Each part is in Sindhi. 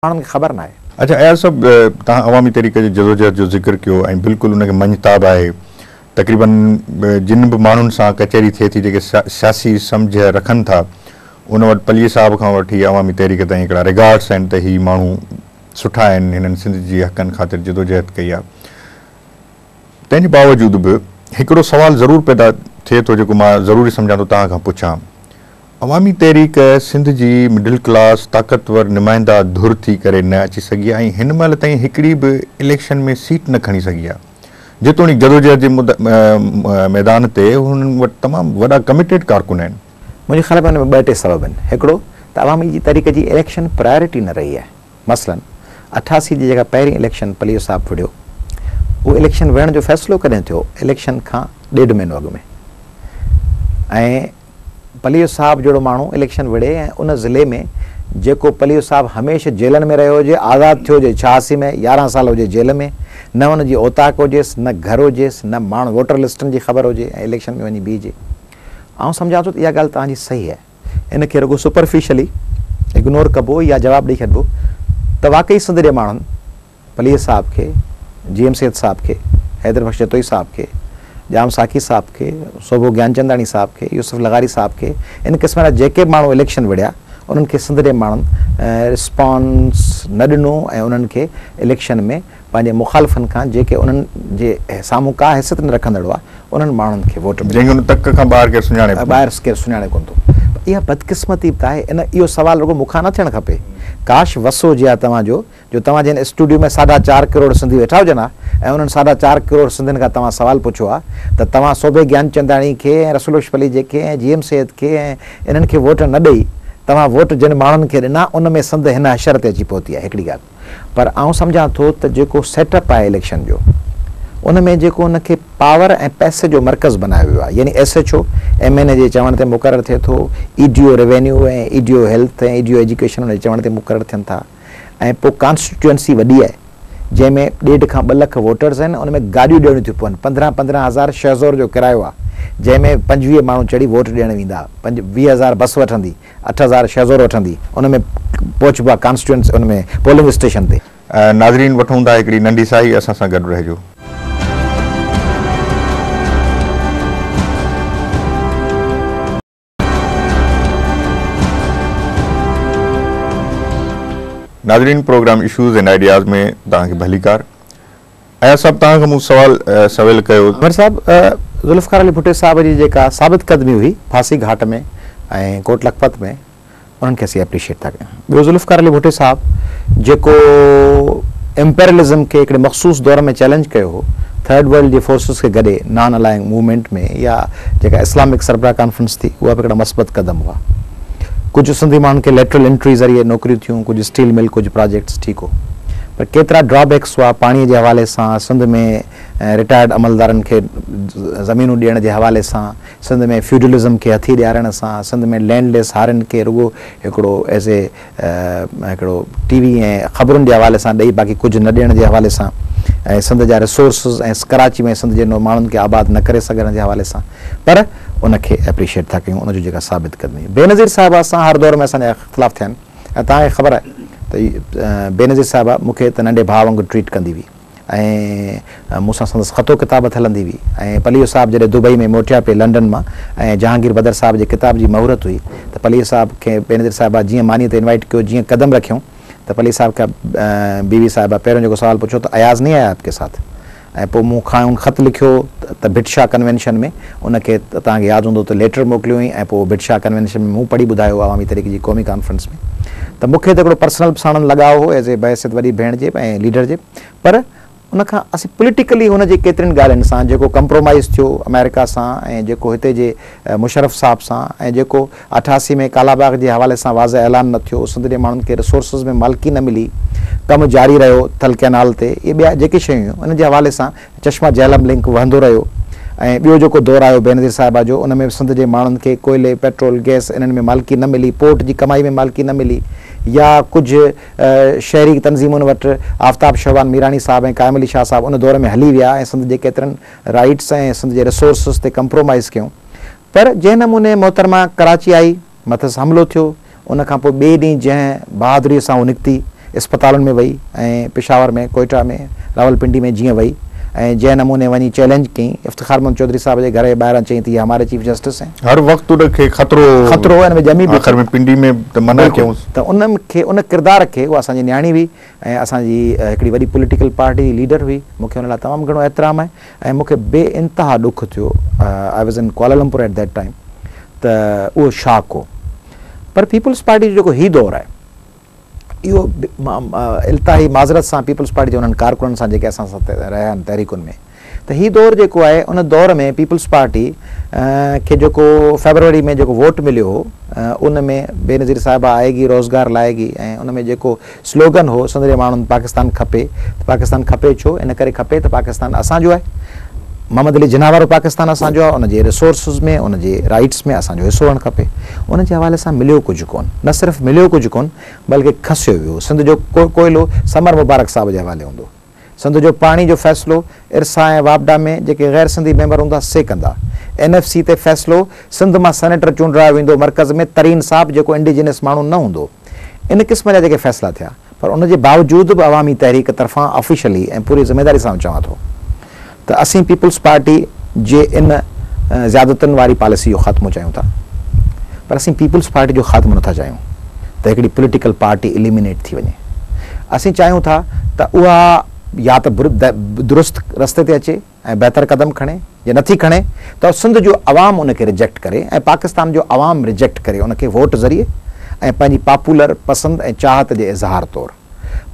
ماڻهن کي خبر ناهي. اچا اياز صاحب توهان عوامي تحريڪ جي جدوجهد جو ذڪر ڪيو ۽ بلڪل ان کي مڃتاب آهي تقريبن جن به ماڻهن سان ڪچهري ٿئي ٿي جيڪي سياسي سمجهه رکن ٿا ان وٽ پليجي صاحب کان وٺي عوامي تحريڪ تائين هڪڙا ريگارڊس آهن ته هي ماڻهو سٺا آهن هنن سنڌ جي حقن خاطر جدوجهد ڪئي آهي تنهنجي باوجود به هڪڙو سوال ضرور پيدا ٿئي ٿو جيڪو مان ضروري سمجهان ٿو توهان کان پڇان. عوامي تحريڪ سنڌ جي مڊل ڪلاس طاقتور نمائنده ڌر ٿي ڪري نه اچي سگهي ۽ هن مهل تائين هڪڙي به اليڪشن ۾ سيٽ نه کڻي سگهي آهي جيتوڻيڪ جدوجهد جي ميدان تي هنن وٽ تمام وڏا ڪميٽيڊ ڪارڪن آهن. منهنجي خيال ۾ ان ۾ ٻه ٽي سبب آهن هڪڙو ته عوامي جي تحريڪ جي اليڪشن پرائرٽي نه رهي آهي. مثلاً اٺاسي جي جيڪا پهرين اليڪشن پليو صاحب وڙهيو، اهو اليڪشن وڙهڻ جو فيصلو ڪڏهن ٿيو؟ اليڪشن کان ڏيڍ مهينو اڳ ۾. ۽ پليو صاحب جهڙو ماڻهو اليڪشن وڙهي ۽ ان ضلعي ۾ جيڪو پليو صاحب هميشه جيلن ۾ رهيو هجي، آزاد ٿيو هجي ڇهاسي ۾ يارهن سال هجي جيل ۾، نه ان جي اوطاق هجيس، نه گهر هجيس، نه ماڻهن ووٽر لسٽن جي خبر هجي ۽ اليڪشن ۾ وڃي بيهجي. آئون سمجهان ٿو ته اها ڳالهه توهان جي صحيح آهي. ان کي رڳو سپرفيشلي اگنور ڪبو يا جواب ڏئي ڇڏبو ته واقعي سنڌ جي ماڻهن پليجي صاحب کي، جي ايم سيد صاحب کي، حيدر بخش جتوئي صاحب کي، ڄام ساقي صاحب کي، سوڀو گيانچنداڻي صاحب کي، يوسف لغاري صاحب کي ان قسم جا جيڪي به ماڻهو اليڪشن وڙهيا انهن کي سنڌ جي ماڻهن رسپانس نه ڏنو ۽ انهن کي اليڪشن ۾ پنهنجي مخالفن کان جيڪي انهن جي سامهون ڪا حيثيت نه رکندڙ هئا، انهن ماڻهن کي ووٽ ملي. جنهن کي ان تڪ کان ٻاهر ڪير سڃاڻي به ڪونه. ٻاهر ڪير سڃاڻي ڪونه ٿو. اها بدقسمتي به ته آهي. ان اهو سوال رڳو مون کان نه ٿيڻ کپي. ڪاش وس هجي ها توهان جو، جو توهان جي هن اسٽوڊيو ۾ ساڍا چار ڪروڙ سنڌي ويٺا هجن ها ۽ انهن ساڍا چار ڪروڙ سنڌين کان توهان سوال پڇو ها ته توهان صوڀي گيانچنداڻي کي ۽ رسول بخش پليجي کي ۽ جي ايم سيد کي ۽ انهن کي ووٽ نه ڏئي توهان ووٽ جن ماڻهن کي ڏنا ان ۾ سنڌ هن حشر تي اچي پهتي آهي. هڪڙي ڳالهه. پر آئون سمجهان ٿو ته جيڪو سيٽ اپ آهي اليڪشن جو ان ۾ جيڪو ان کي پاور ۽ پئسي جو مرڪز بنايو ويو آهي يعني S H O M N A جي چوڻ تي مقرر ٿئي ٿو E D O revenue ۽ E D O health ۽ E D O education ان جي چوڻ تي مقرر ٿين ٿا ۽ پوء ڪانسٽيٽوئنسي وڏي آهي جنهن ۾ ڏيڍ کان ٻه لک ووٽرز آهن ان ۾ گاڏيون ڏيڻيون ٿيون پون پندرهن پندرهن هزار شهزور جو ڪرايو آهي جنهن ۾ پنجويهه ماڻهو چڙهي ووٽ ڏيڻ ويندا پنج ويهه هزار بس وٺندي اٺ هزار شهه زور وٺندي ان ۾ پهچبو آهي ڪانسٽيوئنٽ ان ۾ پولنگ اسٽيشن تي. ناظرين وٺون ٿا هڪڙي ننڍي ساهي اسان سان گڏ رهجو. ناظرين پروگرام اشوز اينڊ آئيڊياز ۾ توهان کي ڀليڪار. اياز صاحب توهان کان مون سوال سويل ڪيو. عمر صاحب ذوالفقار علي ڀٽي صاحب جي جيڪا ثابت قدمي هئي ڦاسي گهاٽ ۾ ۽ ڪوٽ لکپت ۾ انهن کي اسين اپريشيٽ ٿا ڪيون ٻيو ذوالفقار علي ڀٽي صاحب جيڪو امپيرلزم کي هڪڙي مخصوص دور ۾ چئلينج ڪيو هو ٿرڊ ورلڊ جي فورسز کي گڏي نان الائنگ موومينٽ ۾ يا جيڪا اسلامڪ سربراهه ڪانفرنس ٿي اها به هڪڙا مثبت قدم هئا. ڪجهه سنڌي ماڻهن کي ليٽرل انٽري ذريعي نوڪريون ٿيون، ڪجهه اسٽيل مل، ڪجهه پراجيڪٽس، ٺيڪو. پر ڪيترا ڊرا بيڪس هئا، پاڻي جي حوالي سان سنڌ ۾ رٽائرڊ عملدارن کي زمينون ڏيڻ جي حوالي سان، سنڌ ۾ فيوڊلزم کي هٿي ڏيارڻ سان، سنڌ ۾ لينڊ ليس هارين کي رڳو هڪڙو ايز اي هڪڙو ٽي وي ۽ خبرن جي حوالي سان ڏئي باقي ڪجهه نه ڏيڻ جي حوالي سان ۽ سنڌ جا ريسورسز ۽ ڪراچي ۾ سنڌ جي ماڻهن کي آباد نه ڪري سگهڻ جي حوالي سان پر ان کي ايپريشيٽ ٿا ڪيون ان جو جيڪا ثابت قدمي بينظير صاحبه سان هر دور ۾ اسان جا اختلاف ٿيا آهن ۽ توهان کي خبر آهي ته بينظير صاحبه مون کي ته ننڍي ڀاء وانگر ٽريٽ ڪندي هئي ۽ مون سان سندس خط و ڪتابت هلندي هئي ۽ پليجو صاحب جڏهن دبئي ۾ موٽيا پئي لنڊن مان ۽ جهانگير بدر صاحب جي ڪتاب جي مهورت هئي ته پليجي صاحب کي بينظير صاحبه جيئن مانيء تي انوائيٽ ڪيو جيئن قدم رکيون ته پليجي صاحب کي بيوي صاحبه پهريون جيڪو سوال پڇيو ته اياز نهين آيا آپڪي ساٿ ۽ پوء مون کانئن خط لکيو ته ڀٽ شاهه ڪنوينشن ۾ ان کي توهان کي ياد هوندو ته ليٽر موڪليو هئائين ۽ پوء ڀٽ شاهه ڪنوينشن ۾ مون پڙهي ٻڌايو هو عوامي تحريڪ جي قومي ڪانفرنس ۾ ته مون کي ته هڪڙو پرسنل به ساڻن لڳاء هو ايز اي بحيثيت وڏي ڀيڻ جي ۽ ليڊر جي پر ان کان اسين پوليٽيڪلي هن جي ڪيترين ڳالهين سان جيڪو ڪمپرومائيز ٿيو آمريڪا سان ۽ جيڪو هتي جي مشرف صاحب سان ۽ جيڪو اٺاسي ۾ ڪالا باغ جي حوالي سان واضح اعلان نه ٿيو سنڌ جي ماڻهن کي رسورسز ۾ مالڪي نه ملي ڪم جاري رهيو ٿل ڪئنال تي اهي ٻيا جيڪي شيون هيون ان جي حوالي سان چشمه جهلم لنڪ وهندو رهيو ۽ ٻيو جيڪو دور آيو بينظير صاحبه جو ان ۾ به سنڌ جي ماڻهن کي ڪوئلي، پيٽرول، گئس انهن ۾ مالڪي نه ملي، پورٽ جي ڪمائي ۾ مالڪي نه ملي يا ڪجهه شهري تنظيمن وٽ آفتاب شهبان ميراڻي صاحب ۽ قائم علي شاهه صاحب ان دور ۾ هلي ويا ۽ سنڌ جي ڪيترن رائيٽس ۽ سنڌ جي ريسورسز تي ڪمپرومائيز ڪيون پر جنهن نموني محترمه ڪراچي آئي، مٿس حملو ٿيو، ان کان پوء ٻئي ڏينهن جنهن بهادريء سان هو نڪتي، اسپتالن ۾ وئي ۽ پشاور ۾، ڪوئيٽا ۾، راولپنڊي ۾ جيئن وئي ۽ جنهن نموني وڃي چئلينج ڪيائين، افتخار محمد چوڌري صاحب جي گهر جي ٻاهران چيائين ته هي هماري چيف جسٽس هين. هر وقت ان کي خطرو هو. خطرو هو ۽ ان ۾ ڄمي به ٿو. آخر ۾ پنڊي ۾ ته منع بلڪل ڪيائونس. ته ان کي، ان ڪردار کي، اها اسان جي نياڻي هئي ۽ اسان جي هڪڙي وڏي پوليٽيڪل پارٽي جي ليڊر هئي، مون کي ان لاء تمام گهڻو احترام آهي. ۽ مون کي بي انتها ڏک ٿيو، I was in Kuala Lumpur at that time, ته اهو شاڪ هو. پر پيپلز پارٽي جو جيڪو هي دور آهي، اهو التاحي معذرت سان پيپلز پارٽي جي انهن ڪارڪنن سان جيڪي اسان سان رهيا آهن تحريڪن ۾، ته هي دور جيڪو آهي ان دور ۾ پيپلز پارٽي کي جيڪو فيبروري ۾ جيڪو ووٽ مليو هو، ان ۾ بينظير صاحبه آئي گي روزگار لائي گي ۽ ان ۾ جيڪو سلوگن هو سندري ماڻهن پاڪستان کپي ته پاڪستان کپي ڇو؟ ان ڪري کپي ته پاڪستان اسان جو آهي. محمد علي جناح وارو پاڪستان اسان جو آهي، ان جي ريسورسز ۾ ان جي رائيٽس ۾ اسان جو حصو هئڻ کپي. ان جي حوالي سان مليو ڪجهه ڪون. نه صرف مليو ڪجهه ڪون بلڪه کسيو ويو. سنڌ جو ڪوئلو سمر مبارڪ صاحب جي حوالي هوندو. سنڌ جو پاڻي جو فيصلو ارسا ۽ واپڊا ۾ جيڪي غير سنڌي ميمبر هوندا سي ڪندا. اين ايف سي تي فيصلو سنڌ مان سينيٽر چونڊرايو ويندو مرڪز ۾ ترين صاحب جيڪو انڊيجينس ماڻهو نه هوندو. ان قسم جا جيڪي فيصلا ٿيا پر ان جي باوجود به عوامي تحريڪ طرفان آفيشلي ۽ پوري ذميداري سان آئون چوان ٿو ته اسين پيپلز پارٽي جي ان زيادتين واري پاليسي جو خاتمو چاهيون ٿا پر اسين پيپلز پارٽي جو خاتمو نٿا چاهيون ته هڪڙي پوليٽيڪل پارٽي اليمينيٽ ٿي وڃي اسين چاهيون ٿا ته اها يا ته درست رستي تي اچي ۽ بهتر قدم کڻي جي نٿي کڻي ته سنڌ جو عوام ان کي ريجيڪٽ ڪري ۽ پاڪستان جو عوام ريجيڪٽ ڪري ان کي ووٽ ذريعي ۽ پنهنجي پاپولر پسند ۽ چاهت جي اظهار طور.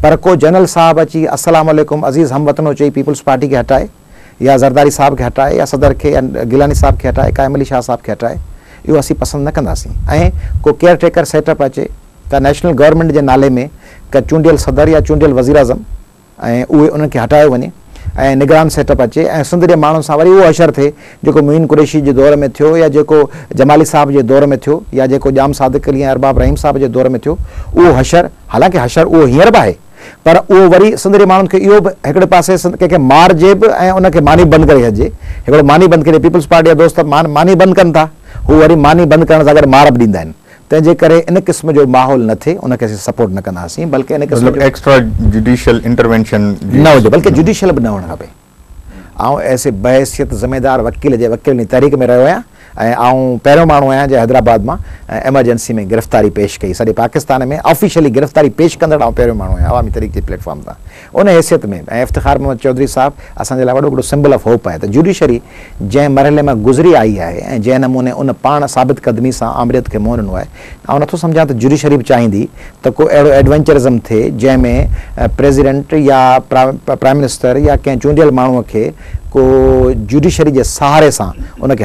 پر ڪو جنرل صاحب اچي السلام عليڪم عزيز هم وطنو چئي پيپلز پارٽي کي هٽائي يا زرداري صاحب کي هٽائي يا صدر کي يا گيلاني صاحب کي هٽائي قائم علي شاهه صاحب کي هٽائي اهو اسين پسند نه ڪنداسين ۽ ڪو ڪيئر ٽيڪر سيٽ اپ اچي ته نيشنل گورنمينٽ جي نالي ۾ ڪا چونڊيل صدر يا چونڊيل وزيراعظم ۽ اهي انهن کي هٽايو وڃي. ۽ نگران سيٽ اپ اچي ۽ سنڌ جي ماڻهن سان وري اهو حشر ٿئي جيڪو معين قريشي جي دور ۾ ٿيو يا جيڪو جمالي صاحب جي دور ۾ ٿيو يا جيڪو ڄام صادق علي ۽ ارباب رحيم صاحب جي دور ۾ ٿيو اهو حشر حالانڪه حشر اهو هينئر به آهي پر اهو وري سنڌ جي ماڻهن کي اهو به هڪڙي پاسي سنڌ ڪنهن کي مارجي به ۽ ان کي ماني بند ڪري ڇڏجي هڪڙو ماني بند ڪري پيپلز پارٽي جا دوست ماني بند ڪن ٿا هو وري ماني بند ڪرڻ سان گڏ مار به ڏيندا آهن. تنهن جي ڪري ان قسم جو ماحول نه ٿئي ان کي اسين سپورٽ نه ڪنداسين بلڪه ان قسم جو مطلب ايڪسٽرا جوڊيشل انٽروينشن جي نه هجي بلڪه جوڊيشل به نه هئڻ کپي آئون ايس اي بحيثيت ذميدار وڪيل جي وڪيلن جي تحريڪ ۾ رهيو آهيان ۽ آئون پهريون ماڻهو آهيان جنهن حيدرآباد مان ايمرجنسي ۾ گرفتاري پيش ڪئي سڄي پاڪستان ۾ آفيشلي گرفتاري پيش ڪندڙ آئون پهريون ماڻهو آهيان عوامي تحريڪ جي پليٽ فارم تان ان حيثيت ۾ به ۽ افتخار محمد چوڌري صاحب اسان جي لاء وڏو وڏو سمبل آف هوپ آهي ته جوڊيشري جنهن مرحلي مان گذري آئي آهي ۽ جنهن نموني ان پاڻ ثابت قدمي سان آمريت کي منهن ڏنو آهي آئون نٿو سمجهان ته جوڊيشري به چاهيندي ته ڪو اهڙو ايڊونچرزم ٿئي جنهن ۾ پريزيڊنٽ يا پرائم منسٽر يا ڪنهن چونڊيل ماڻهو کي ڪو جوڊيشري جي سهاري سان ان کي